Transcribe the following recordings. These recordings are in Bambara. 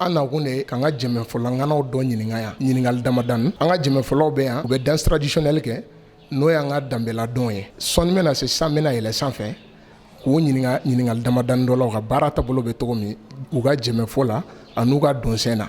an nakun de ye k'an ka jenbefɔla ŋanaw dɔ ɲininka yan ɲininkali damadani an ka jenbefɔlaw bɛ yan u bɛ danse traditionnelle kɛ n'o y'an ka danbeladɔnw ye sɔɔni min na sisan an bɛna yɛlɛ sanfɛ k'u ɲininka ɲininkali damadani dɔ la u ka baara taabolo bɛ cogo min u ka jenbefɔ la ani u ka dɔnsen na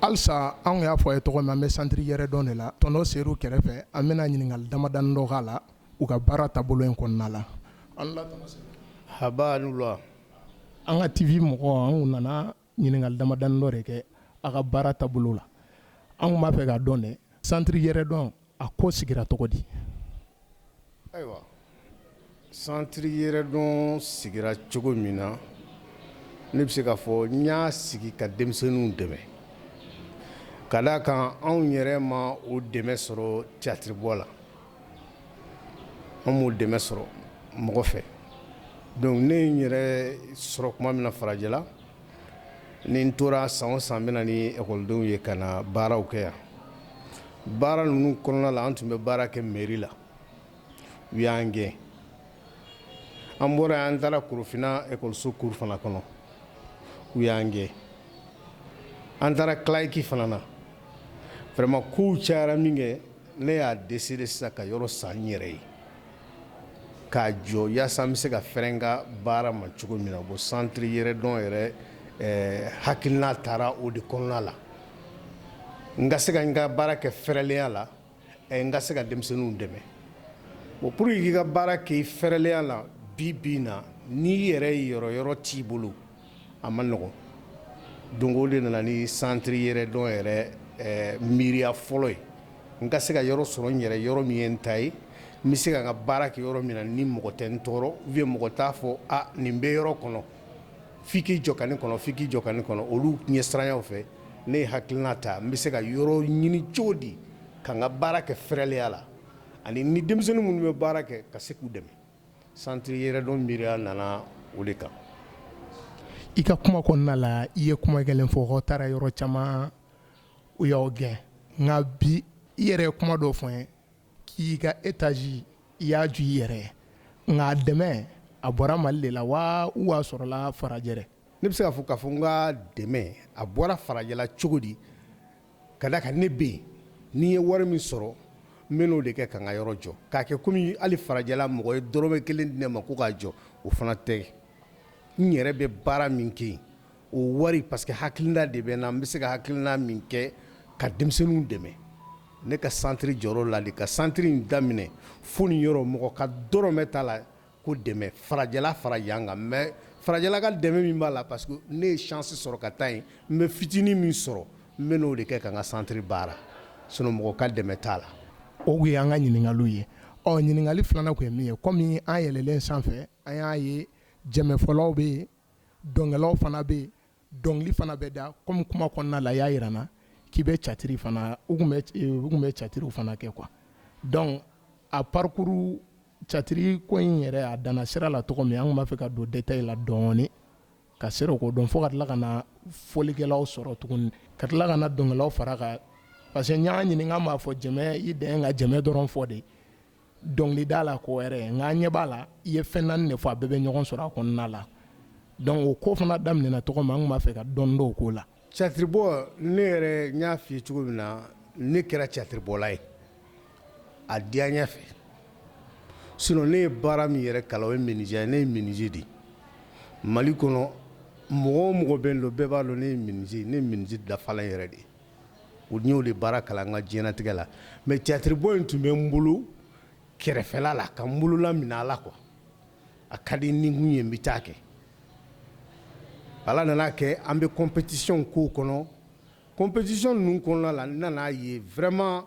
Halisa anw y'a fɔ a ye cogo min an bɛ centre yɛrɛdɔn de la tɔntɔn Seyidu kɛrɛfɛ an bɛna ɲininkali damadani dɔ k'a la u ka baara taabolo in kɔnɔna la an ka TV mɔgɔ anw nana ɲininkali damadani dɔ de kɛ a ka baara taabolo la an tun b'a fɛ k'a dɔn dɛ santiri yɛrɛdɔn a ko sigira cogo di ayiwa santiri yɛrɛdɔn sigira cogo min na ne bɛ se k'a fɔ n y'a sigi ka denmisɛnninw dɛmɛ ka d'a kan anw yɛrɛ ma o dɛmɛ sɔrɔ tiyatiri bɔ la An m'o dɛmɛ sɔrɔ mɔgɔ fɛ donc ne ye n yɛrɛ sɔrɔ tuma min na farajɛla ni n tora san o san n bɛ na ni ɛkɔlidenw ye ka na baaraw kɛ yan baara ninnu kɔnɔna la an tun bɛ baara kɛ mɛri la u y'an gɛn an bɔra yan an taara korofina ɛkɔliso kuru fana kɔnɔ u y'an gɛn an taara kilaki fana na vraiment kow cayara min kɛ ne y'a décidé sisan ka yɔrɔ san n yɛrɛ ye k'a jɔ yaasa n bɛ se ka fɛrɛ n ka baara ma cogo min na bon santiri yɛrɛdɔn yɛrɛ hakilina taara o de kɔnɔna la n ka se ka n ka baara kɛ fɛrɛlenya la n ka se ka denmisɛnninw dɛmɛ bon pour que i k'i ka baara kɛ fɛrɛlenya la bi bi in na n'i yɛrɛ yɔrɔ yɔrɔ t'i bolo A man nɔgɔn donc o de nana ni santiri yɛrɛdɔn yɛrɛ miiriya fɔlɔ ye n ka se ka yɔrɔ sɔrɔ n yɛrɛ yɔrɔ min ye n ta ye n bɛ se ka n ka baara kɛ yɔrɔ min na ni mɔgɔ tɛ n tɔɔrɔ u ye mɔgɔ t'a fɔ nin bɛ yɔrɔ kɔnɔ f'i k'i jɔ ka nin kɔnɔ f'i k'i jɔ ka nin kɔnɔ olu ɲɛsiranya fɛ ne ye hakilina ta n bɛ se ka yɔrɔ ɲini cogo di ka n ka baara kɛ fɛrɛlenya la ani ni denmisɛnnin minnu bɛ baara kɛ ka se k'u dɛmɛ Santiri yɛrɛdɔn miiriya nana o de kan i ka kuma kɔnɔna la i ye kuma kelen fɔ ko aw taara yɔrɔ caman u y'aw gɛn nka bi i yɛrɛ ye kuma dɔ f'an ye k'i ka étage i y'a jɔ i yɛrɛ ye nka dɛmɛ a bɔra mali de la wa ou a sɔrɔla farajɛ Ne bɛ se k'a fɔ ka fɔ n ka dɛmɛ a bɔra farajɛla cogo di ka d'a kan ne bɛ yen ni n ye wari min sɔrɔ n bɛ n'o de kɛ ka n ka yɔrɔ jɔ k'a kɛ kɔmi hali farajɛla mɔgɔ ye dɔrɔmɛ kelen di ne ma ko k'a jɔ o fana tɛ n yɛrɛ bɛ baara min kɛ yen o wari parce que hakilina de bɛ n na n bɛ se ka hakilina min kɛ ka denmisɛnninw dɛmɛ ne ka centre jɔ la ka centre in daminɛ fo nin yɔrɔ mɔgɔ ka dɔrɔmɛ t'a la ko dɛmɛ farajɛla fara yan kan mais farajɛla ka dɛmɛ min b'a la parce que ne ye chance sɔrɔ ka taa yen n bɛ fitinin min sɔrɔ n bɛ n'o de kɛ ka n ka centre baara sinon mɔgɔ ka dɛmɛ t'a la. O tun ye an ka ɲininkaliw ye, ɔ ɲininkali filanan tun ye min ye komi an yɛlɛlen sanfɛ an y'a ye jɛmɛfɔlaw bɛ yen, dɔnkɛlaw fana bɛ yen dɔnkili fana bɛ da kɔmi kuma kɔnɔna la y'a jira na k'i bɛ catiri fana u tun bɛ catiriw fana kɛ quoi donc a parcours catiri ko in yɛrɛ a dan sira la cogo min an b'a fɛ ka don détail la dɔɔnin ka se k'o ko dɔn fo ka tila ka na fɔlikɛlaw sɔrɔ tuguni ka tila ka dɔnkililaw fara kan parce que y'an ɲininka b'a fɔ jɛmɛ i dan ka jɛmɛ dɔrɔn fɔ de dɔnkili da la ko wɛrɛ nka an ɲɛ b'a la i ye fɛn naani de fɔ a bɛɛ bɛ ɲɔgɔn sɔrɔ a kɔnɔna la donc o ko fana daminɛna cogo min an tun b'a fɛ ka dɔɔni dɔn o ko la. Catiribɔ ne yɛrɛ n y'a f'i ye cogo min na ne kɛra catiribɔla ye a diyanya fɛ sinon ne ye baara min yɛrɛ kalan o ye menuisier ye ne ye menuisier de ye Mali kɔnɔ mɔgɔ o mɔgɔ bɛ n dɔn bɛɛ b'a dɔn ne ye menuisier ne ye menuisier dafalan yɛrɛ de ye n y'o de baara kalan n ka diɲɛnatigɛ la mais catiribɔ in tun bɛ n bolo kɛrɛfɛla la ka n bolola mina a la quoi a ka di ni kun ye n bɛ taa kɛ Ala nana a kɛ an bɛ compétition ko kɔnɔ compétition ninnu kɔnɔna la n nana a ye vraiment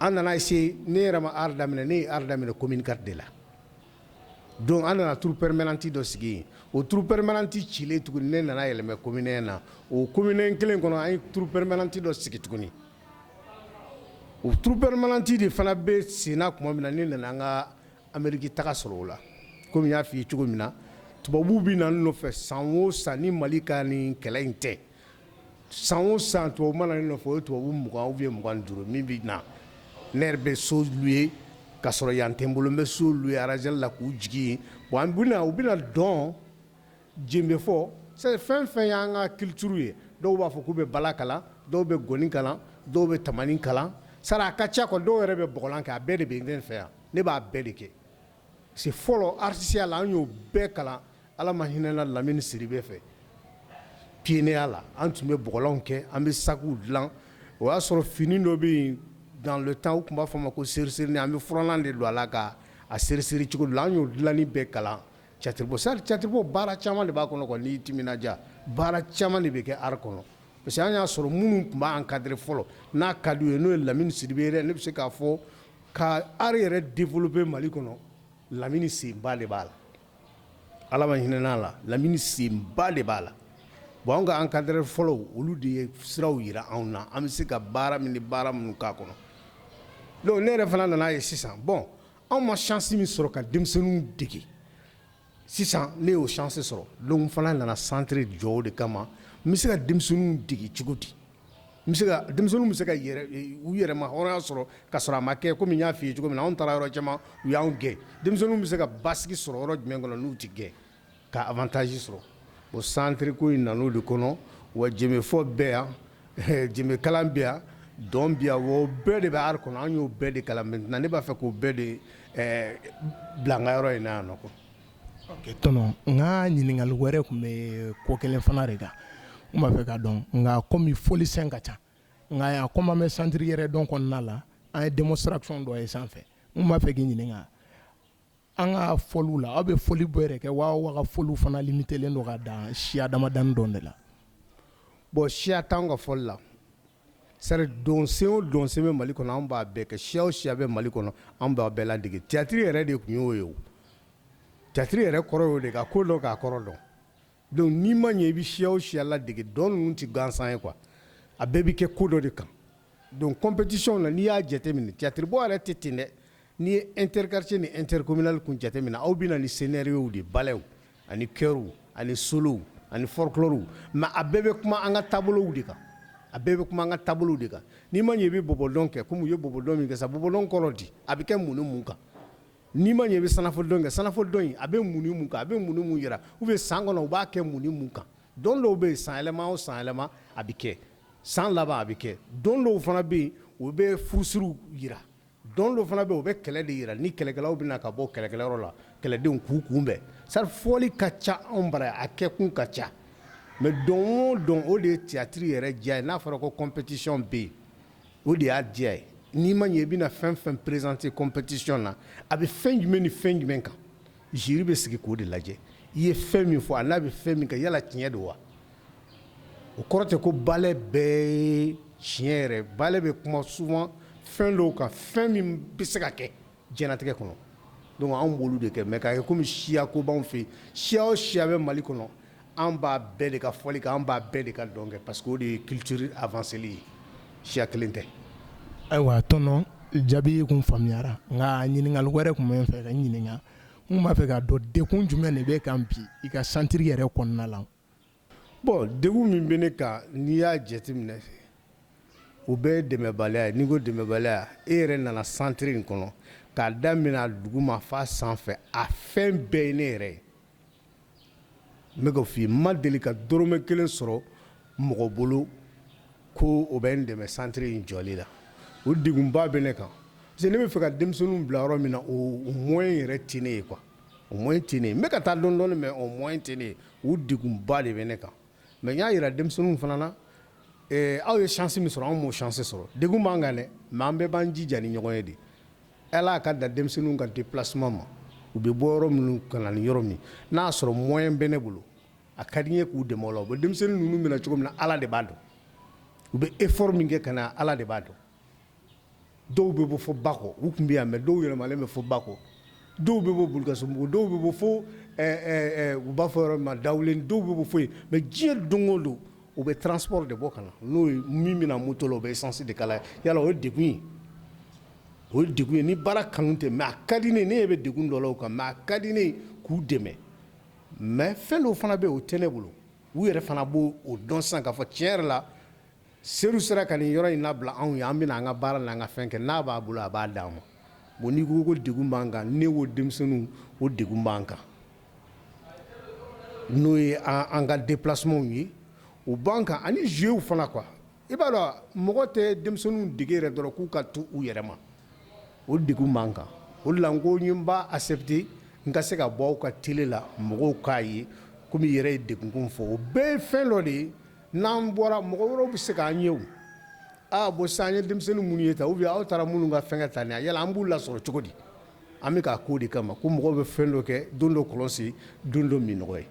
An nana essayer ne yɛrɛ ma art daminɛ ne ye art daminɛ commune IV de la donc an nana troupe permanente dɔ sigi yen o troupe permanente cilen tuguni ne nana yɛlɛma commune I na o commune I kelen kɔnɔ an ye troupe permanente dɔ sigi tuguni o troupe permanente de fana bɛ senna tuma min na ne nana n ka Amerique taga sɔrɔ o la comme n y'a fɔ i ye cogo min na tubabuw bɛ na n nɔfɛ san o san ni Mali ka nin kɛlɛ in tɛ san o san tubabu mana na n nɔfɛ o ye tubabu mugan bɛ mugan duuru min bɛ na ne yɛrɛ bɛ so louer ka sɔrɔ yan tɛ n bolo n bɛ so louer Razel la k'u jigin u bɛna dɔn jenbe fɔ fɛn o fɛn y'an ka culture ye dɔw b'a fɔ k'u bɛ bala kalan dɔw bɛ ngɔni kalan dɔw bɛ tamani kalan sara a ka ca quoi dɔw yɛrɛ bɛ bɔgɔlan kɛ a bɛɛ de bɛ n fɛ yan ne b'a bɛɛ de kɛ si fɔlɔ aritisiya la an y'o bɛɛ kalan ala ma hinɛ a la lamini sidibe fɛ pineya la an tun bɛ blan kɛ an bɛ saku dilan o y'a sɔrɔ fini dɔ bɛ yen dan tan u tun b'a fɔ ma ko sri siri an bɛ flan de don a la ka a seri siri cogo la an y'o dilanni bɛɛ kalan tiyatiribɔ sari tiyatiribɔ baara caman de b'a kɔnɔ kɔni tija baara caman de bɛ kɛ art kɔnɔ parce que an y'a sɔrɔ minnu tun b'an encadrer fɔlɔ n'a kadi ye n'o ye lamini sidibe ye ne bɛ se k'a fɔ Ka art yɛrɛ développer mali kɔnɔ lamini senba de b'a la ala ma hinɛ a la lamini senba de b'a la bon an ka encadreur fɔlɔw olu de ye siraw jira anw na an bɛ se ka baara min ni baara minnu k'a kɔnɔ donc ne yɛrɛ fana nana a ye sisan bon anw ma chance min sɔrɔ ka denmisɛnninw dege Sisan ne y'o chance sɔrɔ donc n fana nana centre jɔ o de kama n bɛ se ka denmisɛnninw dege cogo di n bɛ se ka denmisɛnninw bɛ se ka u yɛrɛma hɔrɔnya sɔrɔ ka sɔrɔ a ma kɛ comme n y'a f'i ye cogo min na anw taara yɔrɔ caman u y'anw gɛn denmisɛnninw bɛ se ka basigi sɔrɔ yɔrɔ jumɛn kɔnɔ n'u tɛ gɛn ka avantage sɔrɔ bon centre ko in nan'o de kɔnɔ wa jenbefɔ bɛ yan Jenbe kalan bi yan dɔn bi yan o bɛɛ de bɛ art kɔnɔ an y'o bɛɛ de kalan maintenant ne b'a fɛ k'o bɛɛ de bila n ka yɔrɔ in na yan tɔnɔ n ka ɲininkali wɛrɛ tun bɛ yen ko kelen fana de kan n b'a fɛ k'a dɔn nka kɔmi fɔlisen ka ca nka yan kɔm'an bɛ centre yɛrɛ dɔn kɔnɔna la an ye démonstration dɔ ye sanfɛ n b'a fɛ k'i ɲininka an ka fɔliw la aw bɛ fɔli bɔ yɛrɛ kɛ wa wa aw ka fɔli fana limitelen don k'a da siya damadɔ de la bon siya t'an ka fɔli la sari dɔnsen o dɔnsen bɛ mali kɔnɔ an b'a bɛɛ kɛ siya o siya bɛ mali kɔnɔ an b'a bɛɛ ladege tiyatiri yɛrɛ de tun y'o ye tiyatiri yɛrɛ kɔrɔ y'o de ka ko dɔn k'a kɔrɔ dɔn Donc n'i ma ɲɛ i bɛ siya o siya ladege dɔn ninnu tɛ gansan ye quoi a bɛɛ bɛ kɛ ko dɔ de kan donc compétitionw na n'i y'a jate minɛ tiyatiri yɛrɛ tɛ ten dɛ n'i ye inter-quartier ni inter-communal kun jate minɛ aw bɛ na ni scénariow de balɛw ani chœur ani solow ani folklore mɛ a bɛɛ bɛ kuma an ka taabolow de kan a bɛɛ bɛ kuma an ka taabolo de kan n'i ma ɲɛ i bɛ bɔbɔdɔn kɛ kɔmi ye bɔbɔdɔn min kɛ sa bɔbɔdɔn kɔrɔ di a bɛ kɛ mun mun kan N'i ma ɲɛ i bɛ senufo dɔn kɛ senufo dɔn a bɛ mun kan a bɛ mun mun jira u bɛ san kɔnɔ u b'a kɛ mun mun kan dɔn dɔw bɛ yen sanyɛlɛma o sanyɛlɛma a bɛ kɛ san laban a bɛ kɛ dɔn dɔw fana bɛ yen u bɛ furusiriw jira dɔn dɔw fana bɛ u bɛ kɛlɛ de jira ni kɛlɛkɛlaw bɛ na ka bɔ kɛlɛkɛyɔrɔ la kɛlɛdenw k'u kunbɛn sari fɔli ka ca anw bara a kɛ kun ka ca mɛ dɔn o dɔn o de ye tiyatiri yɛrɛ diya ye n'a fɔra ko compétition bɛ yen O de y'a diya ye n'i ma ɲɛ i bɛna fɛn fɛn présenter compétition na a bɛ fɛn jumɛn ni fɛn jumɛn kan jury bɛ sigi k'o de lajɛ i ye fɛn min fɔ an'a bɛ fɛn min kɛ yala tiɲɛ don wa o kɔrɔ tɛ ko balɛ bɛɛ tiɲɛ yɛrɛ balɛ bɛ kuma souvent fɛn dɔw kan fɛn min bɛ se ka kɛ Jɛnɛtigɛ kɔnɔ don anw bolo de kɛ mɛ' ye kɔmi siya ko b'anw fɛ siya o siya bɛ mali kɔnɔ an b'a bɛɛ de ka fɔli kan an b'a bɛɛ de ka dɔn kɛ parce que de ye kite a seli ye siya kelen tɛ ayiwa tɔn jaabi tun faamuyara nka ɲininkali wɛrɛ tun bɛ n fɛ k'i ɲininka n tun b'a fɛ k'a dɔn degun jumɛn de b'i kan bi i ka santiri yɛrɛ kɔnɔna la Bon degun min bɛ ne kan n'i y'a jate minɛ o bɛɛ ye dɛmɛbaliya ye n'i ko dɛmɛbaliya e yɛrɛ nana santiriri in kɔnɔ k'a daminɛ a duguma f'a sanfɛ a fɛn bɛɛ ye ne yɛrɛ ye n bɛ k'a fɔ n ma deli ka dɔrɔmɛ kelen sɔrɔ mɔgɔ bolo ko o bɛ n dɛmɛ santiriri in jɔli la o degunba bɛ ne kan parce que ne b'a fɛ ka denmisɛnninw bila yɔrɔ min na o moyen yɛrɛ tɛ ne ye quoi o moyen tɛ n ye n bɛ ka taa dɔɔnin dɔɔnin mɛ o moyen tɛ n ye o degunba de bɛ ne kan mɛ y'a jira denmisɛnnin fana na aw ye sisi min sɔrɔ anw' sise sɔrɔ de b'an kan dɛ mɛ an bɛɛ b'an jija ni ɲɔgɔn ye de ala y'a ka da denmisɛnninw ka déplacement u bɛ bɔ yɔrɔ minnu ka ni yɔrɔ min n'a y'a sɔrɔ moyen bɛ ne bolo a ka di n ye k'u dɛmɛ o denmisɛnnin ninnu bɛ na cogo min na ala de b'a dɔn u bɛ effort min kɛ ka na ala de b'a dɔn dɔw bɛ bɔ fo bakɔ u tun bɛ yan mɛ dɔw yɛlɛmalen bɛ fo bakɔ dɔw bɛ bɔ bulkasumbugu dɔw bɛ bɔ fo u b'a fɔ yɔrɔ ma dawu dɔw bɛ bɔ fo yen mɛ diɲɛ don o don u bɛ transport de bɔ ka na n'o ye min bɛ na moto la u bɛ sansi de k'a la yala o ye de ye o ye de ye ni baara kanu tɛ mɛ ka di ne ne bɛ de dɔ la kan mɛ a ka di ne ye k'u dɛmɛ mɛ fɛn dɔw fana bɛ o tɛ ne bolo u yɛrɛ fana b' o dɔn san ka fɔ cɛ yɛrɛ la Seyidu sera ka nin yɔrɔ in labila anw ye an bɛna an ka baara n'an ka fɛn kɛ n'a b'a bolo a b'a d'an ma bon n'i ko ko degun b'an kan ne ko denmisɛnninw o degun b'an kan n'o ye an an ka déplacements ye o b'an kan ani jeux fana quoi i b'a dɔn mɔgɔ tɛ denmisɛnninw dege yɛrɛ dɔrɔn k'u ka to u yɛrɛ ma o degun b'an kan o de la n ko n ye n b'a accepter n ka se ka bɔ aw ka tele la mɔgɔw k'a ye kɔmi i yɛrɛ ye degun ko fɔ o bɛɛ ye fɛn dɔ de ye N'an bɔra mɔgɔ wɛrɛw bɛ se k' an ye aaa bon san ye denmisɛnnin minnu ye ta u bɛ aw taara minnu ka fɛn ka tan ni a yala an b'u lasɔrɔ cogo di an bɛ k' ko de kama ko mɔgɔ bɛ fɛn dɔ kɛ don dɔ kɔlɔsi don dɔ min nɔgɔ ye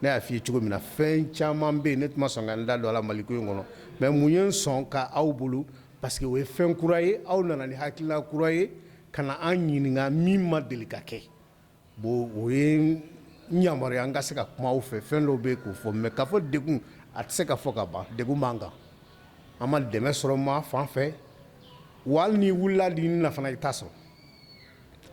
ne y'a fɔ i ye cogo min na fɛn caman bɛ yen ne tɛ sɔn ka n da don a la mali ko in kɔnɔ mɛ mun ye sɔn k' aw bolo parce que o ye fɛn kura ye aw nana ni hakilila kura ye ka na an ɲininka min ma deli ka kɛ Bon o ye yamaruya n ka se ka kuma fɛn fɛn dɔ bɛ k'o fɔ mɛ ka fɔ degun a tɛ se ka fɔ ka ban degun b'an kan an ma dɛmɛ sɔrɔ maa fan fɛ wa n'i wulila di na fana i t'a sɔrɔ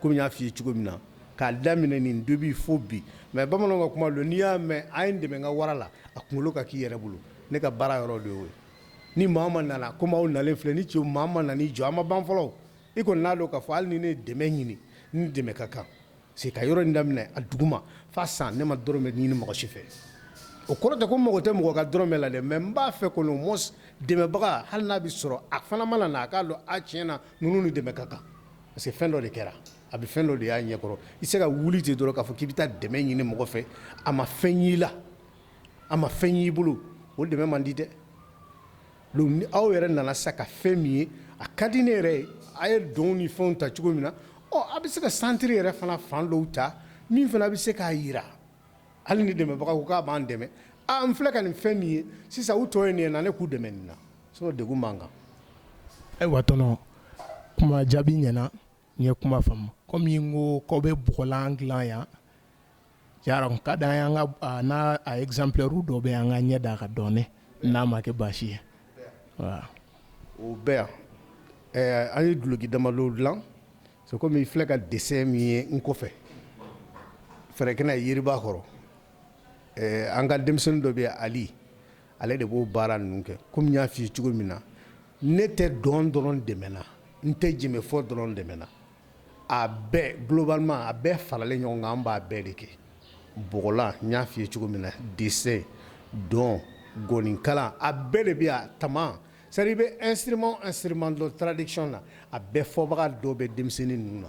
kɔmi y'a fɔ i ye cogo min na k'a daminɛ nin don bɛ fo bi mɛ bamanan ka kuma don n'i y'a mɛn a ye n dɛmɛ ka wara faga a kunkolo ka k'i yɛrɛ bolo ne ka baara yɔrɔ de ye ni maa ma nana ko maaw na filɛ ni cɛ maa ma nan jɔ an ma ban fɔlɔ I kɔni n'a dɔn k'a fɔ hali ni ne dɛmɛ ɲini ni dɛmɛ ka kan se ka yɔrɔ in daminɛ a duguma f'a san ne ma dɔrɔmɛ ɲini mɔgɔ si fɛ o kɔrɔ tɛ ko n mako tɛ mɔgɔ ka dɔrɔmɛ la dɛ mais n b'a fɛ ko mɔ dɛmɛbaga hali n'a bɛ sɔrɔ a fana mana na a k'a dɔn a tiɲɛ na ninnu ni dɛmɛ ka kan parce que fɛn dɔ de kɛra a bɛ fɛn dɔ de y'a ɲɛkɔrɔ i se ka wuli ten dɔrɔn k'a fɔ k'i bɛ taa dɛmɛ ɲini mɔgɔ fɛ a ma fɛn y'i la a ma fɛn y'i bolo o dɛmɛ man di dɛ Donc aw yɛrɛ nana sa ka fɛn min ye a ka di ne yɛrɛ ye a ye dɔnw ni fɛnw ta cogo min na ɔ a bɛ se ka santiri yɛrɛ fana fan dɔw ta min fana a bɛ se k'a jira hali ni dɛmɛbaga ko k'a b'an dɛmɛ an filɛ ka nin fɛn min ye sisan u tɔ ye nin na ne k'u dɛmɛ nin na sinon degun b'an kan ayiwa tɔnɔ kuma jaabi ɲɛna N ye kuma faamu kɔmi i ko k'aw bɛ bɔgɔlan dilan yan ka da n n' a ye exemplaire dɔ bɛ an ka ɲɛ da a kan dɔɔnin n'a ma kɛ baasi ye o bɛ yan ɛɛ an ye duloki damadɔ dila so kɔmi i filɛ ka dessin min ye n kɔfɛ fɛrɛkɛnɛ na yiriba kɔrɔ an ka denmisɛnnin dɔ bɛ yan Ali Ale de b'o baara ninnu kɛ kɔmi n y'a fɔ i ye cogo min na ne tɛ dɔn dɔrɔn dɛmɛ na n tɛ jɛmɛfɔ dɔrɔn dɛmɛ na a bɛɛ globalement a bɛɛ faralen ɲɔgɔn kan an b'a bɛɛ de kɛ bɔgɔlan n y'a fɔ i ye cogo min na dessin dɔn ngɔni kalan a bɛɛ de bɛ yan tama seri bɛ instrument instrument de tradition na a bɛɛ fɔbaga dɔ bɛ denmisɛnnin ninnu na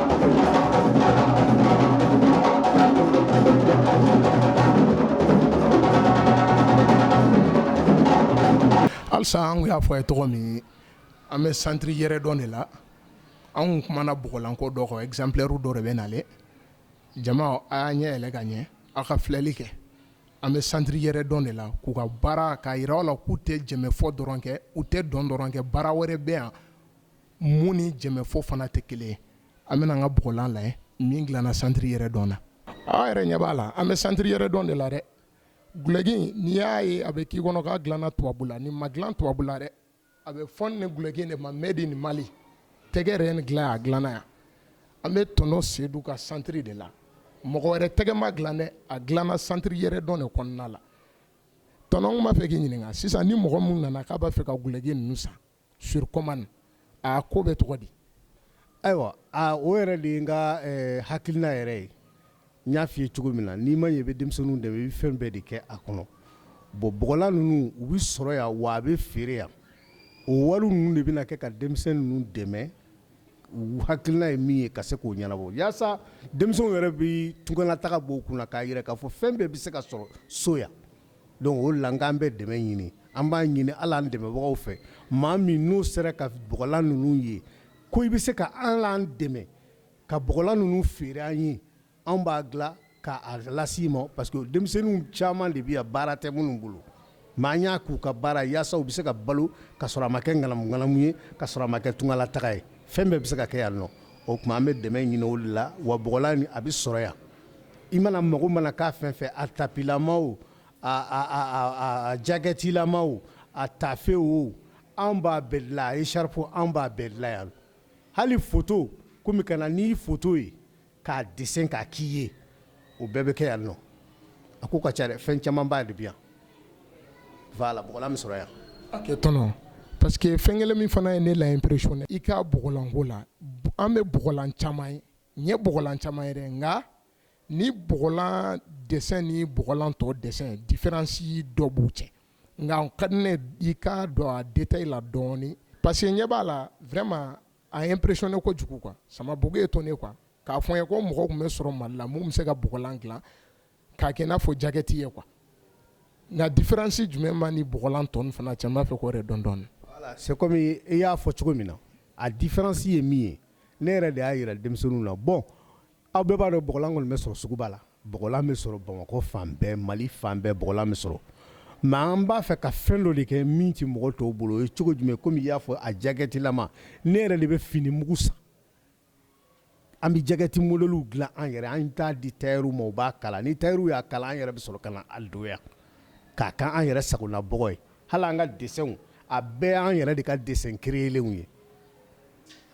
Alisa an y'a fɔ aw ye cogo min an bɛ santiri Yɛrɛdɔn de la an tun kumana bɔgɔlanko dɔ kan exemplaire dɔ de bɛ na jama a y'aw ɲɛ yɛlɛ ka ɲɛ aw ka filɛli kɛ an bɛ santiri Yɛrɛdɔn de la k'u ka baara k'a jira aw la k'u tɛ jɛmɛfɔ dɔrɔn kɛ u tɛ dɔn dɔrɔn kɛ baara wɛrɛ bɛ yan min ni jɛmɛfɔ fana tɛ kelen ye an bɛna an ka bɔgɔlan la min dilana santiri Yɛrɛdɔn na aw yɛrɛ ɲɛ b'a la an bɛ santiri Yɛrɛdɔn de la dɛ duloki n'i y'a ye a bɛ k'i kɔnɔ k'a dilana tubabu la nin ma dila tubabu la dɛ a bɛ fɔ nin duloki de ma made in Mali tɛgɛ yɛrɛ ni dilan a dilana yan an bɛ tɔnɔ Sedu ka santiri de la mɔgɔ wɛrɛ tɛgɛ m'a dila dɛ a dilana santiri Yɛrɛdɔn de kɔnɔna la tɔnɔ n b'a fɛ k'i ɲininka sisan ni mɔgɔ minnu nana k'u b'a fɛ ka duloki ninnu san sur commande a ko bɛ cogo di ayiwa o yɛrɛ de ye n ka hakilina yɛrɛ ye n y'a fɔ i ye cogo min na n'i mana ye i bɛ denmisɛnninw dɛmɛ i bɛ fɛn bɛɛ de kɛ a kɔnɔ bon bɔgɔlan ninnu u bɛ sɔrɔ yan wa a bɛ feere yan o wari ninnu de bɛna kɛ ka denmisɛnnin ninnu dɛmɛ u hakilina ye min ye ka se k'o ɲɛnabɔ walasa denmisɛnw yɛrɛ bɛ tunganataga bɔ u kun na k'a jira k'a fɔ fɛn bɛɛ bɛ se ka sɔrɔ so yan Donc o la an bɛ dɛmɛ ɲini an b'a ɲini ala dɛmɛbagaw fɛ maa min n'u sera ka bɔgɔlan ninnu ye ko i bɛ se ka an dɛmɛ ka bɔgɔlan ninnu feere an ye an b'a dila k'a lase i ma parce que denmisɛnnin caman de bɛ baara tɛ minnu bolo n' y'a k'u ka baara yaasa u bɛ se ka balo ka sɔrɔ a ma kɛ ŋanamuŋanamu ye ka sɔrɔ a ma kɛ tungala taga ye fɛn bɛɛ bɛ se ka kɛ yan nɔ o tuma an bɛ dɛmɛ ɲini o la wa bɔgɔlan a bɛ sɔrɔ yan i mana mago mana k'a fɛn fɛ a tapilama o a jakɛtilama o a tafe o an b'a bɛɛ dilan a écharpe o an b'a bɛɛ dilan yan hali foto komi ka na n'i foto ye k'a dessin k'a k'i ye o bɛɛ bɛ kɛ yan nɔ a ko ka ca dɛ fɛn camanba de bi yan voilà bɔgɔlan min sɔrɔ yan tɔnɔ parce que fɛn kelen min fana ye ne la impressionner i ka bɔgɔlanko la an bɛ bɔgɔlan caman ye N ye bɔgɔlan caman ye nka nin bɔgɔlan dessin ni bɔgɔlan tɔ dessin difiransi dɔ b'u cɛ nka ka ne i ka don a détail la dɔɔnin parce que ɲɛ b'a la vraiment a ye n impressionner kojugu kuwa ça m'a beaucoup étonné kuwa k'a fɔ ye ko mɔgɔ tun bɛ sɔrɔ mali la minnu bɛ se ka bɔgɔlan dila k'a kɛ n'a fɔ jakɛti ye kuwa nka difiransi jumɛn b'a ni bɔgɔlan tɔw fana cɛ b'a fɛ k'o yɛrɛ dɔn donc c'est kɔmi i y'a fɔ cogo min na a difiransi ye min ye ne yɛrɛ de y'a jira denmisɛnnin na bon aw bɛɛ b'a dɔn bɔgɔlan kɔni bɛ sɔrɔ suguba la bɔgɔlan bɛ sɔrɔ bamakɔ fan bɛɛ mali fan bɛɛ bɔgɔlan bɛ sɔrɔ mɛ an b'a fɛ ka fɛn dɔ de kɛ min tɛ mɔgɔ tɔw bolo o ye cogo jumɛn kɔmi y'a fɔ a jakɛtilama ne yɛrɛ de bɛ fini mugu san An bɛ jakɛti modelw dilan an yɛrɛ an t'a di tayɛriw ma u b'a kala ni tayɛri y'a kala an yɛrɛ bɛ sɔrɔ ka na a donya k'a kɛ an yɛrɛ sagola bɔgɔ ye hali an ka dessinw a bɛɛ an yɛrɛ de ka dessin kerelenw ye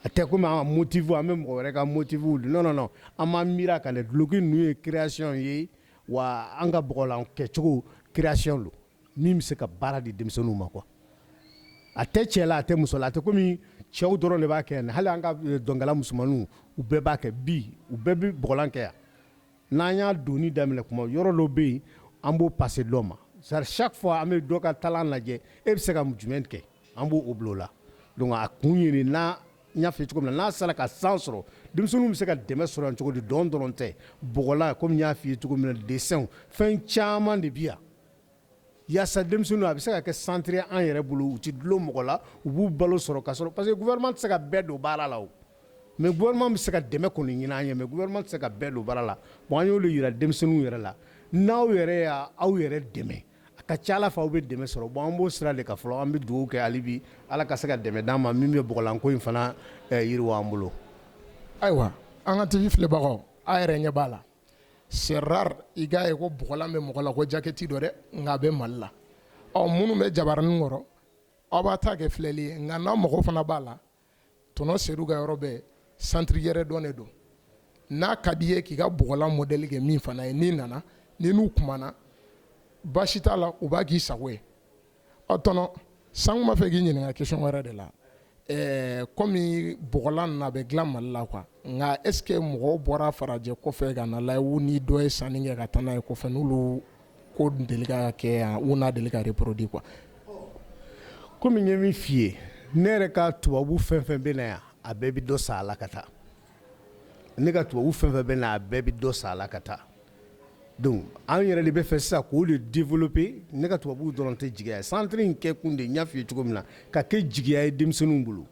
a tɛ komi an motifu an bɛ mɔgɔ wɛrɛ ka motifu nɔn an ma mi ka duloki ninnu ye création ye wa an ka bɔgɔlan kɛcogo création don min bɛ se ka baara di denmisɛnninw ma kuwa a tɛ cɛ la a tɛ muso la a tɛ kɔmi cɛw dɔrɔn de b'a kɛ yan hali an ka eh, dɔnkala musomanninw u bɛɛ b'a kɛ bi u bɛɛ bɛ bɔgɔlan kɛ yan n'an y'a doni daminɛ kuma yɔrɔ dɔ bɛ yen an b'o pase dɔ ma sari chaque fois an bɛ dɔ ka talent lajɛ e bɛ se ka jumɛn kɛ an b'o bila o la donc a kun ye nin n'a n y'a f'i cogo min na n'a sera ka san sɔrɔ denmisɛnninw bɛ se ka dɛmɛ sɔrɔ yan cogo di dɔn dɔrɔn tɛ bɔgɔlan komi n y'a f'i ye cogo min na dessinw fɛn caman de bi yan Yasa denmisɛnnin a bɛ se ka kɛ centre an yɛrɛ bolo u tɛ dulon mɔgɔ la u b'u balo sɔrɔ ka sɔrɔ parce que gouvernement tɛ se ka bɛɛ don baara la mɛ gouvernement bɛ se ka dɛmɛ kɔni ɲinin an ye mɛ gouvernement tɛ se ka bɛɛ don baara la bon an y'olu jira denmisɛnninw yɛrɛ la n'aw yɛrɛ y' aw yɛrɛ dɛmɛ a ka ca ala fɛ aw bɛ dɛmɛ sɔrɔ bon an b'o sira de kan fɔlɔ an bɛ dugawu kɛ hali bi ala ka se ka dɛmɛ d'an ma min bɛ bɔgɔlanko in fana yiriwa an bolo ayiwa an ka tɛmɛ filɛbagaw aw yɛrɛ ɲɛ b'a la c'est rare i k'a ye ko bɔgɔlan bɛ mɔgɔ la ko jakɛti don dɛ nka a bɛ mali la ɔ minnu bɛ jabaranin kɔrɔ aw b'a ta kɛ filɛli ye nka n'a mago fana b'a la tɔntɔn sedu ka yɔrɔ bɛ santiri yɛrɛ dɔ de don n'a ka di i ye k'i ka bɔgɔlan modɛli kɛ min fana ye n'i nana n'i n'u kumana baasi t'a la u b'a k'i sago ye ɔ tɔntɔn sisan n b'a fɛ k'i ɲininka question wɛrɛ de la kɔmi bɔgɔlan na a bɛ dilan mali la quoi nka est-ce que mɔgɔw bɔra farajɛ kɔfɛ ka na la u ni dɔ ye sanni kɛ ka taa n'a ye kɔfɛ n'olu ko deli kɛ yan u n'a deli ka de produit quoi kɔmi n ye min f'i ye ne yɛrɛ ka tubabu fɛn fɛn bɛ na yan a bɛɛ bɛ dɔ san a la ka taa ne ka tubabu fɛn fɛn bɛ na a bɛɛ bɛ dɔ san a la ka taa donc an yɛrɛ de b'a fɛ sisan k'o de développer ne ka tubabuw dɔrɔn tɛ jigiya ye centre in kɛ kun de n y'a f'i ye cogo min na ka kɛ jigiya ye denmisɛnninw bolo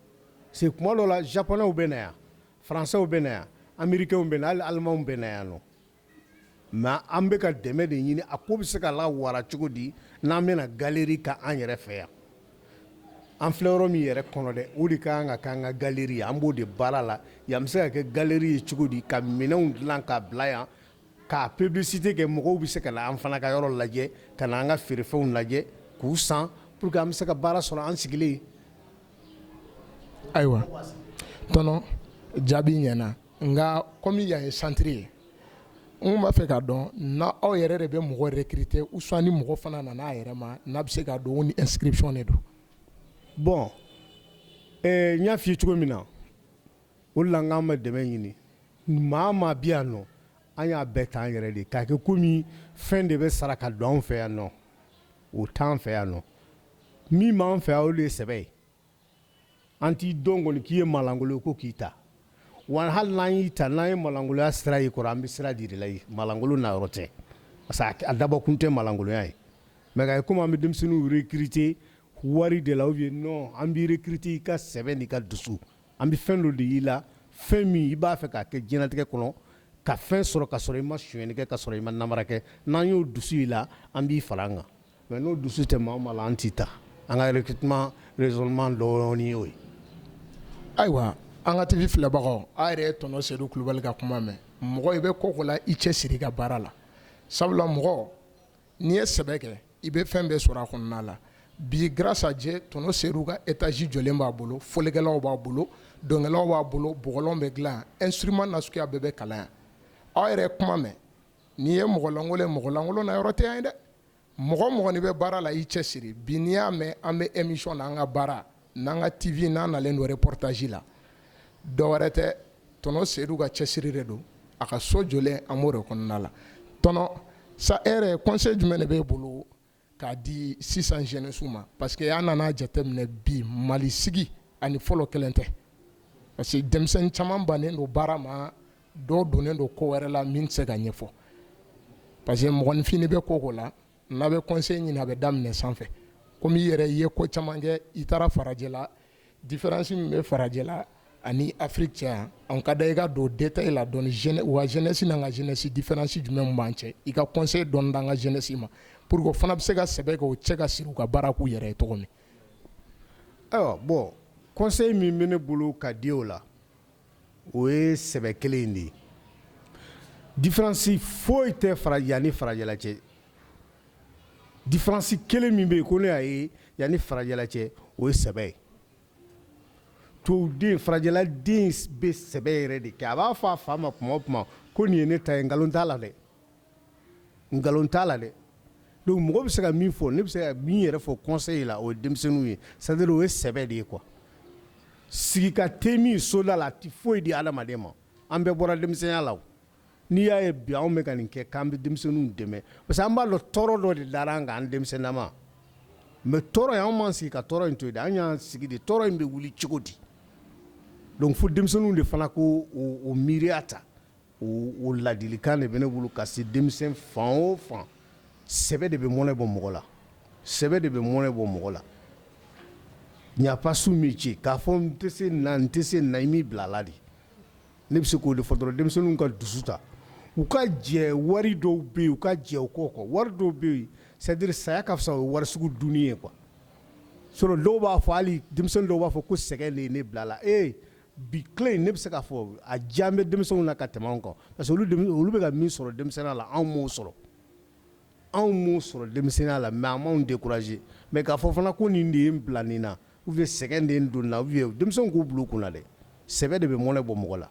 parce que tuma dɔw la japonɛw bɛ na yan français bɛ na yan américains bɛ na yan hali allemands bɛ na yan nɔ Nka an bɛ ka dɛmɛ de ɲini a ko bɛ se ka lawara cogo di n'an bɛna galeri kɛ an yɛrɛ fɛ yan an filɛ yɔrɔ min yɛrɛ kɔnɔ dɛ o de ka kan ka kɛ an ka galeri an b'o de baara la yan bɛ se ka kɛ galeri ye cogo di ka minɛnw dilan ka bila yan ka publicité kɛ mɔgɔw bɛ se ka na an fana ka yɔrɔ lajɛ ka na an ka feerefɛnw lajɛ k'u san pour que an bɛ se ka baara sɔrɔ an sigilen ayiwa tɔntɔn jaabi ɲɛna nka kɔmi yan ye santiri ye n b'a fɛ k'a dɔn n'aw yɛrɛ de bɛ mɔgɔ recruter ou sinon ni mɔgɔ fana nana a yɛrɛ ma n'a bɛ se ka don ni inscription de don bon n y'a fɔ cogo min na o la an bɛ dɛmɛ ɲini maa maa bɛ yan nɔ an y'a bɛɛ ta an yɛrɛ de k'a kɛ kɔmi fɛn de bɛ sara ka don an fɛ yan nɔ o t'an fɛ yan nɔ min b'an fɛ o de ye sɛbɛ ye an t'i dɔn kɔni k'i ye maalankolon ko k'i ta wa hali n'an y'i ta n'an ye maalankolonya sira y'i kɔrɔ an bɛ sira d'i ma maalankolonya yɔrɔ tɛ parce que a dabɔ kun tɛ maalankolonya ye mɛ ye komi an bɛ denmisɛnnin recruter wari de la ye non an b'i recruter i ka sɛbɛ n'i ka dusu an bɛ fɛn dɔ de y'i la fɛn min i b'a fɛ k'a kɛ dignité kɔnɔ ka fɛn sɔrɔ ka sɔrɔ i ma sonyali kɛ ka sɔrɔ i ma nanbara kɛ n'an y'o dusu i la an b'i fara an kan Mais n'o dusu tɛ maa na an t'a ta an ka recrutement dɔɔnin ye ye ayiwa an ka tivi filɛbagaw aw yɛrɛ ye tɔntɔn sedu kulubali ka kuma mɛn mɔgɔ i bɛ ko la i cɛsiri i ka baara la sabula mɔgɔ n'i ye sɛbɛ kɛ i bɛ fɛn bɛɛ sɔrɔ a kɔnɔna la bi gajɛ tɔntɔn sedu ka étage jɔlen b'a bolo fɔlikɛlaw b'a bolo dɔnkɛlaw b'a bolo bɔgɔlan bɛ dilan instrument suguya bɛɛ bɛ kalan aw yɛrɛ kuma mɛn N'i ye mɔgɔlankolon ye mɔgɔlankolon nayɔrɔ tɛ yan ye dɛ mɔgɔ o mɔgɔ n'i bɛ baara la i cɛ siri bi n'i y'a mɛn an bɛ émission na an ka baara n'an ka TV n'an nalen don reportage la dɔ wɛrɛ tɛ tɔnɔ Sedu ka cɛsiri de don a ka so jɔlen an b'o de kɔnɔna la tɔnɔ sa e yɛrɛ conseil jumɛn de b'e bolo k'a di sisan jɛnɛsiw ma parce que an nana jateminɛ bi Mali sigi ani fɔlɔ kelen tɛ parce que denmisɛnnin caman bannen don baara ma dɔ donnen don ko wɛrɛ la min tɛ se ka ɲɛfɔ parce que mɔgɔninfin bɛ ko o ko la n'a bɛ conseil ɲini a bɛ daminɛ sanfɛ komi i yɛrɛ i ye ko caman kɛ i taara farajɛla Difaransi min bɛ farajɛla ani Afiriki cɛ an ka da i ka don détail la dɔɔnin u ka jɛnɛsi n'an ka jɛnɛsi difaransi jumɛn b'an cɛ i ka conseil dɔ d'an ka jɛnɛsi ma pour que u fana bɛ se ka sɛbɛ k'u cɛ ka siri u ka baara k'u yɛrɛ ye tɔgɔ min ayiwa bɔn conseil min bɛ ne bolo ka di o la o ye sɛbɛ kelen in de ye difaransi foyi tɛ fara yan ani farajɛla cɛ Difaransi kelen min bɛ yen ko ne y'a ye yan ni farajɛla cɛ o ye sɛbɛ ye to den farajɛla den bɛ sɛbɛ yɛrɛ de kɛ a b'a fɔ a fa ma tuma o tuma ko nin ye ne ta ye nkalon t'a la dɛ nkalon t'a la dɛ donc mɔgɔ bɛ se ka min fɔ ne bɛ se ka min yɛrɛ fɔ conseil la o ye denmisɛnninw ye sa o ye sɛbɛ de ye quoi ka sigi ka te min soda la a tɛ foyi di adamaden ma an bɛɛ bɔra denmisɛnya la N'i y'a ye bi anw bɛ ka nin kɛ k'an bɛ denmisɛnninw dɛmɛ parce que an b'a dɔn tɔɔrɔ dɔ de dara an kan an denmisɛnninnaman mais tɔɔrɔ in anw m'an sigi ka tɔɔrɔ in to yen dɛ, an y'an sigi de tɔɔrɔ in bɛ wuli cogo di donc fo denmisɛnninw de fana ka o miiriya ta o ladilikan de bɛ ne bolo ka se denmisɛn fan o fan sɛbɛ de bɛ mɔnɛ bɔ mɔgɔ la sɛbɛ de bɛ mɔnɛ bɔ mɔgɔ la il n'y a pas sot métier k'a fɔ n tɛ se nin na n tɛ se nin na i m'i bila a la de ne bɛ se k'o de fɔ dɔrɔn denmisɛnninw ka dusu ta u ka jɛ wari dɔw bɛ yen u ka jɛ o kɔ wari dɔw bɛ yen c'est-à-dire saya ka fisa o wari sugu dun ye quoi so dɔw b'a fɔ hali denmisɛnninw dɔw b'a fɔ ko sɛgɛn de ye ne bila a la e bi tile in ne bɛ se k'a fɔ argent bɛ denmisɛnw na ka tɛmɛ an kan parce que olu bɛ ka min sɔrɔ denmisɛnninya la anw m'o sɔrɔ anw m'o sɔrɔ denmisɛnninya la mais anw ma décourager même k'a fɔ fana ko nin de y'i bila nin na Ou bien sɛgɛn de ye n don a la u ye denmisɛnw k'o bɔ olu kun na dɛ sɛbɛ de bɛ mɔnɛ bɔ mɔgɔ la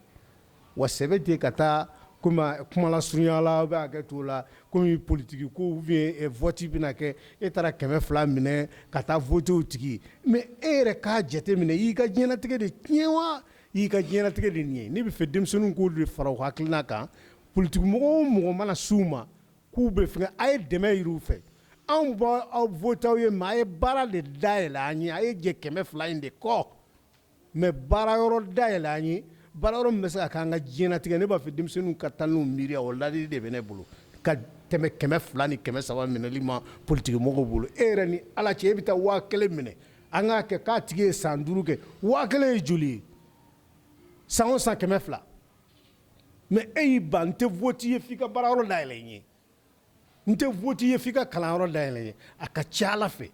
wa sɛbɛ tɛ ka taa kuma lasurunya la bɛ kɛ to la kɔmi politigi ko ou bien vote bɛna kɛ e taara kɛmɛ fila minɛ ka taa voter o tigi mais e yɛrɛ k'a jate minɛ y'i ka diɲɛnatigɛ de tiɲɛ wa y'i ka diɲɛnatigɛ de nin ye n b'a fɛ denmisɛnninw k'o de fara u hakilina kan politigi mɔgɔ o mɔgɔ mana s'u ma k'u bɛ fɛ a ye dɛmɛ ɲini u fɛ anw bɛ vote aw ye mɛ a ye baara de dayɛlɛn an ye a ye jɛ kɛmɛ fila in de kɔ mɛ baara yɔrɔ dayɛlɛn an ye baara yɔrɔ min bɛ se ka k'an ka diɲɛnatigɛ ne b'a fɛ denmisɛnninw ka taa n'u miiriya o ladili de bɛ ne bolo ka tɛmɛ kɛmɛ fila ni kɛmɛ saba minɛli ma politikimɔgɔw bolo e yɛrɛ ni ala cɛ e bɛ taa waa kelen minɛ an k'a kɛ k'a tigi ye san duuru kɛ waa kelen ye joli ye san o san kɛmɛ fila mɛ e y'i ban n tɛ vote i ye fo i ka baara yɔrɔ dayɛlɛ n ye n tɛ vote i ye fo i ka kalan yɔrɔ dayɛlɛ n ye a ka ca a la fɛ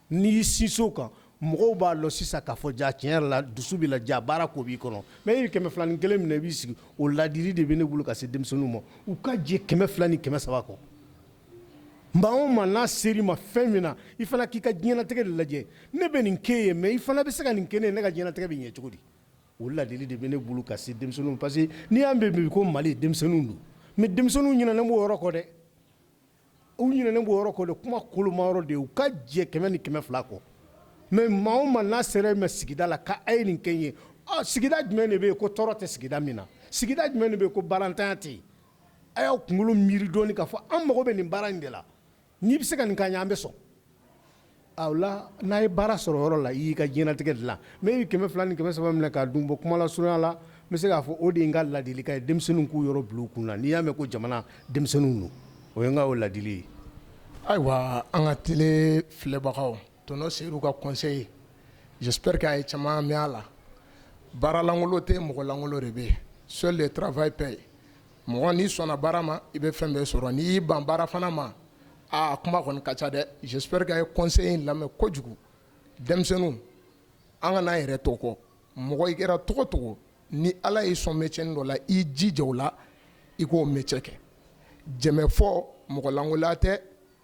n'i y'i sinsin o kan mɔgɔw b'a dɔn sisan k'a fɔ ja tiɲɛ yɛrɛ la dusu b'i la ja baara ko b'i kɔnɔ mɛ e ye kɛmɛ filanin kelen minɛ i b'i sigi o ladili de bɛ ne bolo ka se denmisɛnninw ma u ka jɛ kɛmɛ fila ni kɛmɛ saba kɔ nka anw mana se i ma fɛn min na i fana k'i ka diɲɛnatigɛ de lajɛ ne bɛ nin kɛ i ye mɛ i fana bɛ se ka nin kɛ n ye ne ka diɲɛnatigɛ bɛ ɲɛ cogo di O ladili de bɛ ne bolo ka se denmisɛnninw parce que n'i y'a mɛn bi ko mali denmisɛnninw don mɛ denmisɛnninw ɲinanen b'o yɔrɔ kɔ dɛ u ɲinanen b'o yɔrɔ kɔ dɛ kuma kolomayɔrɔ de u ka jɛ kɛmɛ ni kɛmɛ fila kɔ mɛ maa mana se i ma sigida la k'a ye nin kɛ ye sigida jumɛn de bɛ yen ko tɔɔrɔ tɛ sigida min na sigida jumɛn de bɛ yen ko baarantanya tɛ yen a y'aw kunkolo miiri dɔɔnin k'a fɔ an mago bɛ nin baara in de la N'i bɛ se ka nin k'an ye an bɛ sɔn n'a ye baara sɔrɔ yɔrɔ la i y'i ka diɲɛnatigɛ dilan mɛ i ye kɛmɛ fila ni kɛmɛ saba minɛ k'a dun bon kuma lasurunya la n bɛ se k'a fɔ o de n ka ladilikan ye denmisɛnninw k'o yɔrɔ bil'u kun na n'i y'a mɛn ko jamana denmisɛnninw don o ye n ka ladili ye ayiwa an ka TV filɛbagaw tɔnɔ se ka conseil j'espère a ye caman mɛn a la baaralankolon tɛ mɔgɔlankolon de bɛ so de tfa ye pe ye mɔgɔ n'i sɔnna baara ma i bɛ fɛn bɛɛ sɔrɔ n'i y'i ban baara fana ma aa a kuma kɔni ka ca dɛ j'espère que a ye conseil in lamɛn kojugu denmisɛnninw an kan'an yɛrɛ to kɔ mɔgɔ i kɛra cogo o cogo ni Ala y'i sɔn métier nin dɔ la i jija o la i k'o métier kɛ jɛmɛfɔ mɔgɔlankolon tɛ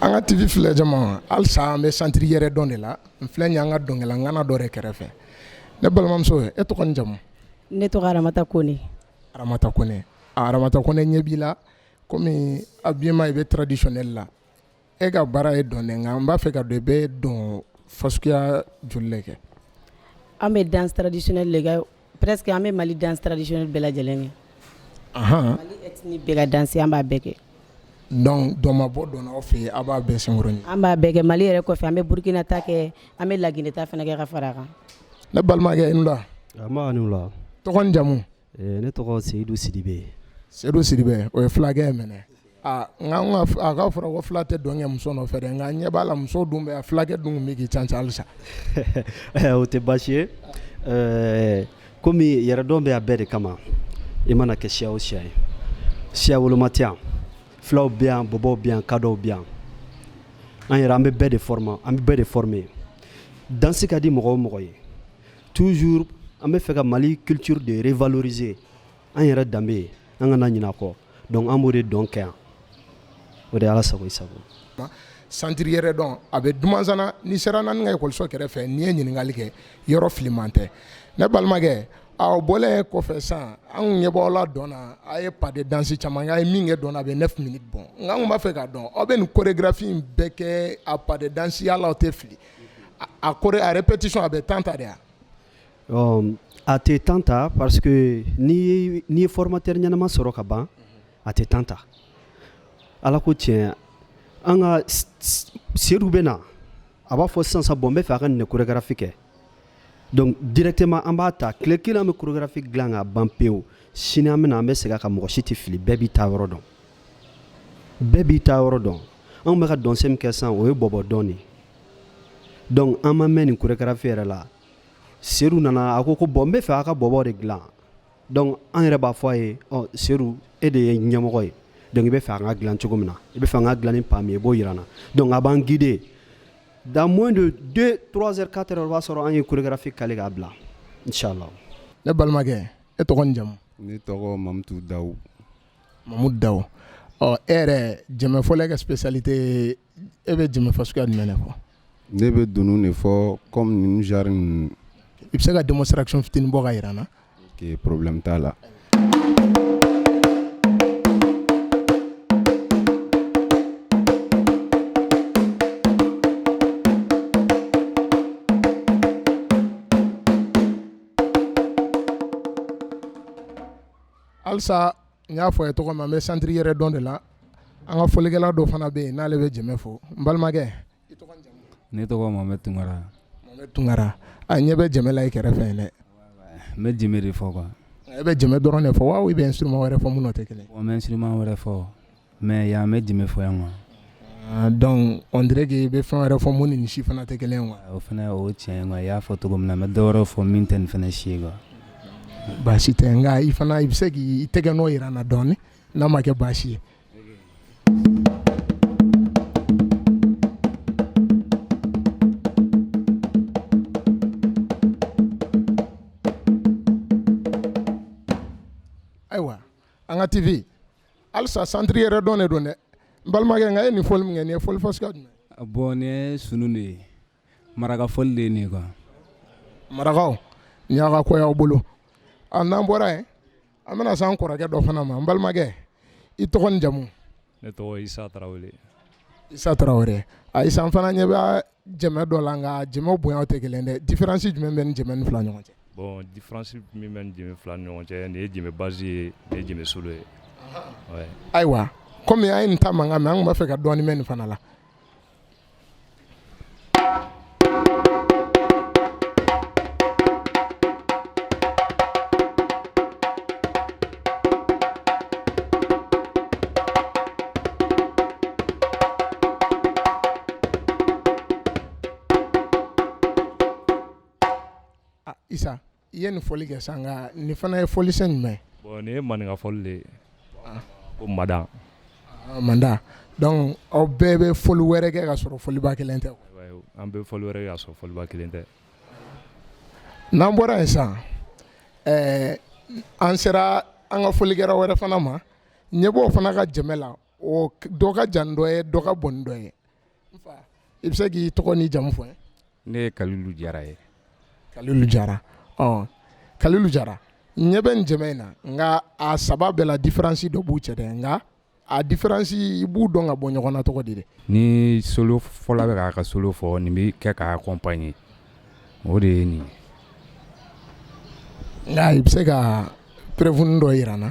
An ka TV filɛ jama halisa an bɛ centre Yɛrɛdɔn de la n filɛ yan an ka dɔnkɛla ŋana dɔ kɛrɛfɛ ne balimamuso e tɔgɔ n'i jamu ne tɔgɔ ramata kɔnɛ ramata kɔnɛ ne ɲɛ b'i la kɔmi a bi ma i bɛ traditionnel la e ka baara ye dɔn nka n b'a fɛ k'a dɔn i bɛ dɔn fasuguya joli kɛ an bɛ danse traditionnel lajɛ Presque an bɛ mali danse traditionnel bɛɛ lajɛlen kɛ ni bɛɛ ka danse an b'a bɛɛ kɛ donc dɔn ma bɔ dɔn na aw fɛ aw b'a bɛn san an b'a bɛɛ kɛ mali yɛrɛ kɔfɛ an bɛ burukina ta kɛ an bɛ laginɛ ta fana kɛ ka fara a kan ne balimakɛ la tɔgɔ ni jamu ne tɔgɔ seyidu sidibe seyidu sidibe o ye fulakɛ minɛ aa nka nka a ka fɔra ko fila tɛ dɔn kɛ muso nɔfɛ dɛ nka n ɲɛ b'a la muso dun bɛ filakɛ dun bɛ k'i can can halisa o tɛ baasi ye ɛɛ komi yɛrɛdɔn bɛ a bɛɛ de kama i mana kɛ siya o siya ye siyawoloma tɛ yan filaw bɛ yan bɔbɔw bɛ yan kadɔw bɛ yan an yɛrɛ an bɛ bɛɛ de former an bɛ bɛɛ de former dansi ka di mɔgɔ o mɔgɔ ye toujours an bɛ fɛ ka Mali culture de revaloriser an yɛrɛ danbe an kana ɲinɛ a kɔ Donc an b' de dɔn kɛ yan o de ala sago sago centre yɛrɛdɔn a bɛ Dumanzana n'i sera naani ka ikɔso kɛrɛfɛ n'i ye ɲininkali kɛ yɔrɔ filiman tɛ ne balimakɛ aw bɔra kɔfɛ sisan anw ɲɛ b'aw la dɔn a ye pas de danse caman ye min kɛ dɔn a bɛ ne fini bɔn nka anw b'a fɛ ka dɔn aw bɛ nin chorégraphie bɛɛ kɛ a pa dansiya la aw tɛ fili a ko a répétition a bɛ temps ta de yan ɔ a tɛ temps ta parce que n'i ye formateur ɲɛnama sɔrɔ ka ban a tɛ temps ta Ala ko tiɲɛ an ka Sedu bɛ na a b'a fɔ sisan sa bon n bɛ fɛ a ka nin de chorégraphie kɛ donc directement an b'a ta tile kelen an bɛ chorégraphie dilan ka ban pewu sini an bɛ na an bɛ segin a kan mɔgɔ si tɛ fili bɛɛ b'i ta yɔrɔ dɔn bɛɛ b'i ta yɔrɔ dɔn anw bɛ ka dɔnsɛn min kɛ sisan o ye bɔbɔ dɔn de ye donc an ma mɛn nin chorégraphie yɛrɛ la Sedu nana a ko ko bon n bɛ fɛ a ka bɔbɔ de dilan donc an yɛrɛ b'a fɔ a ye Sedu e de ye ɲɛmɔgɔ ye donc i bɛ fɛ an ka dilan cogo min na i bɛ fɛ an ka dilan pas min i b'o jira an na donc a b'an guider dans moins de vingt-quatre heures o b'a sɔrɔ an ye chorégraphie caler k'a bila n si la ne balimakɛ e tɔgɔ ni jamu ne tɔgɔ mamutu da mamu da ɔ e yɛrɛ jɛmɛfɔla e ka spécialité e bɛ jɛmɛ fɔ suguya min de fɔ Ne bɛ dunun de fɔ kɔmi zari ninnu i bɛ se ka denmuso siran fit bɔ ka jira na porobi t'a la alisa N y'a fɔ a ye cogo min na, an bɛ centre yɛrɛdɔn de la, an ka fɔlikɛla dɔ fana bɛ yen n'ale bɛ jɛmɛ fɔ, n balimakɛ, i tɔgɔ ni jamu? Ne tɔgɔ ye Mohamɛdi Tunkara, Mohamɛdi Tunkara, an ɲɛ bɛ jɛmɛ la i kɛrɛfɛ yen dɛ, n bɛ jɛmɛ de fɔ quoi, e bɛ jɛmɛ dɔrɔn de fɔ wa ou bien i bɛ instrument wɛrɛ fɔ minnu n'o tɛ kelen ye? Bon n bɛ instrument wɛrɛ fɔ Mais yan n bɛ jɛmɛ fɔ yan ma donc on dirait que i bɛ fɛn wɛrɛ fɔ minnu ni nin si fana tɛ kelen wa o fana o cɛ ma i y'a fɔ cogo min na n bɛ dɔ wɛrɛ fɔ min tɛ nin fana si wa baasi tɛ n i fana i bɛ se k' i tɛgɛnɔ jira an na dɔɔnin n'a ma kɛ baasi ye ayiwa an ka tibi halisa santiri yɛrɛ dɔn de don dɛ n balimakɛ nka i ye nin fɔli min kɛ nin ye fɔli fasuguya jumɛn ye bon nin ye sunu de ye maraka fɔli de ye nin ye quoi marakaw nin y'aw ka ko y'aw bolo a n'an bɔra yen an bɛna se an kɔrɔkɛ dɔ fana ma n balimakɛ i tɔgɔ ni jamu ne tɔgɔ isa tarawele isa tarawele a isa n fana ɲɛ bɛ jɛmɛ dɔ la nka jɛmɛ bonya tɛ kelen dɛ difiransi jumɛn bɛ jɛmɛ nin fila ɲɔgɔn cɛ bɔn difiransi min bɛ jɛmɛ fila ɲɔgɔn cɛ nin ye jɛmɛ basi ye nin ye jɛmɛ solo ye ayiwa kɔmi an ye nin ta mankan mɛ an b'a fɛ ka dɔɔni mɛn nin fana la I ye nin fɔli kɛ sa nka nin fana ye fɔli jumɛn nin ye maninka fɔli de ye ko madan madan aw bɛɛ bɛ fɔli wɛrɛ kɛ ka sɔrɔ fɔliba kelen tɛ an bɛ fɔli wɛrɛ ka sɔrɔ fɔliba kelen tɛ N'an bɔra yen sa an sera an ka fɔlikɛla wɛrɛ fana ma ɲɛ b'o fana ka jɛmɛ la o dɔ ka jan dɔ ye dɔ ka bon dɔ ye i bɛ se k'i tɔgɔ ni jamu fɔ ne ye kalilu jara ye kalilu jara kalilu jara ɲɛ bɛ jɛmɛ in na nka a saba bɛɛ la difiransi dɔ b'u cɛ dɛ nka a difiransi i b'u dɔn ka bɔ ɲɔgɔn na cogo di ni solo fɔla bɛ k'a ka solo fɔ nin bɛ kɛ k'a kɔnpaɲe o de ye nin nka i bɛ se ka preuve dɔ jira an na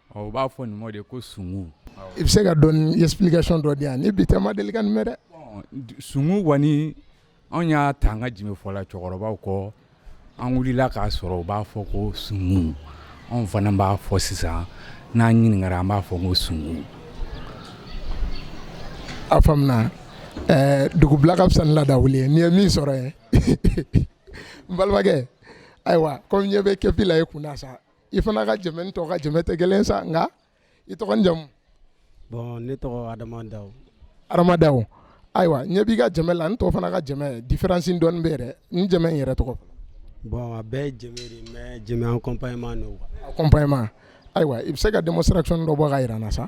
Ɔ u b'a fɔ nin ma de ko sugu, awɔ, i bɛ se ka dɔɔnin explication dɔ di yan ni bi tɛ n ma deli ka nin mɛn dɛ, bon sugu kɔni anw y'a ta an ka jime fɔla cɛkɔrɔbaw kɔ an wulila k'a sɔrɔ u b'a fɔ ko sugu anw fana b'a fɔ sisan n'an ɲininkara an b'a fɔ ko sugu a faamuna ɛɛ dugu bila ka fisa ni laada wuli ye n'i ye min sɔrɔ yen n balimakɛ ayiwa ko n ɲɛ bɛ kepi la i kun na sa i fana ka jɛmɛ ni tɔw ka jɛmɛ tɛ kelen ye sa nka i tɔgɔ ni jamu bon ne tɔgɔ Adama Dawo Adama Dawo ayiwa ɲɛ b'i ka jɛmɛ la ni tɔw fana ka jɛmɛ différence dɔɔni bɛ yen dɛ n jɛmɛ in yɛrɛ tɔgɔ bon a bɛɛ ye jɛmɛ de ye mais jɛmɛ accompagnement don quoi accompagnement ayiwa i bɛ se ka demonstration dɔ bɔ k'a jira an na sa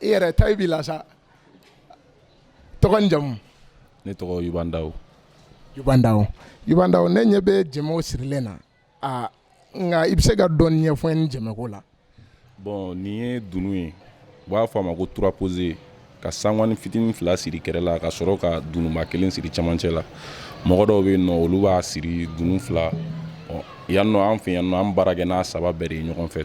i yɛrɛ tayi b'i la sa tɔgɔ ni jamu ne tɔgɔ Yuban Dawo Yuban Dawo Yuban Dawo ne ɲɛ bɛ jɛmɛw sirilen na a nka i bɛ se ka dɔɔni ɲɛfɔ n ye jɛmɛko la bon nin ye dunun ye u b'a fɔ a ma ko trois pose ka sangwani fitinin fila siri kɛrɛ la ka sɔrɔ ka dununba kelen siri cɛmancɛ la mɔgɔ dɔw bɛ yen nɔ olu b'a siri dunun fila yan nɔ an fɛ yan nɔ an baara kɛ n'a saba bɛɛ de ye ɲɔgɔn fɛ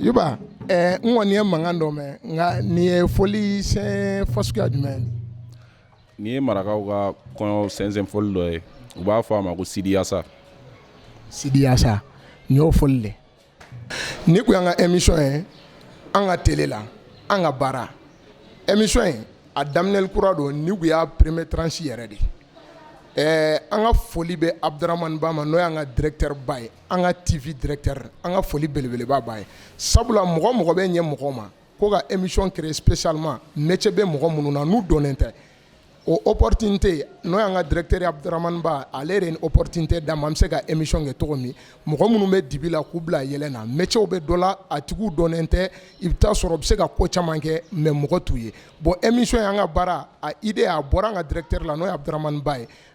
Yuba ɛɛ n kɔni ye mankan dɔ mɛn nka nin ye fɔli sen fasuguya jumɛn ye? Nin ye marakaw ka kɔɲɔ sɛnsɛn fɔli dɔ ye u b'a fɔ a ma ko sidiyaasa. Sidiyaasa nin y'o fɔli de ye. Nin tun y'an ka emission ye an ka tele la an ka baara emission in a daminɛli kura don nin tun y'a premier tranche yɛrɛ de ye ɛɛ an ka foli bɛ Abudaramani Ba ma n'o y'an ka directeur ba ye. an ka TV directeur an ka foli belebeleba b'a ye sabula mɔgɔ mɔgɔ bɛ ɲɛ mɔgɔ ma ko ka émission créer spécialement métier bɛ mɔgɔ minnu na n'u dɔnnen tɛ o opportunité n'o y'an ka directeur ye Abudramani Ba ale de ye nin opportunité d'an ma an bɛ se ka émission kɛ cogo min mɔgɔ minnu bɛ dibi la k'u bila yeelen na métier bɛ dɔ la a tigiw dɔnnen tɛ i bɛ taa sɔrɔ u bɛ se ka ko caman kɛ mais mɔgɔ t'u ye bon émission in an ka baara a idée a bɔra an ka directeur la n'o ye Abudramani Ba ye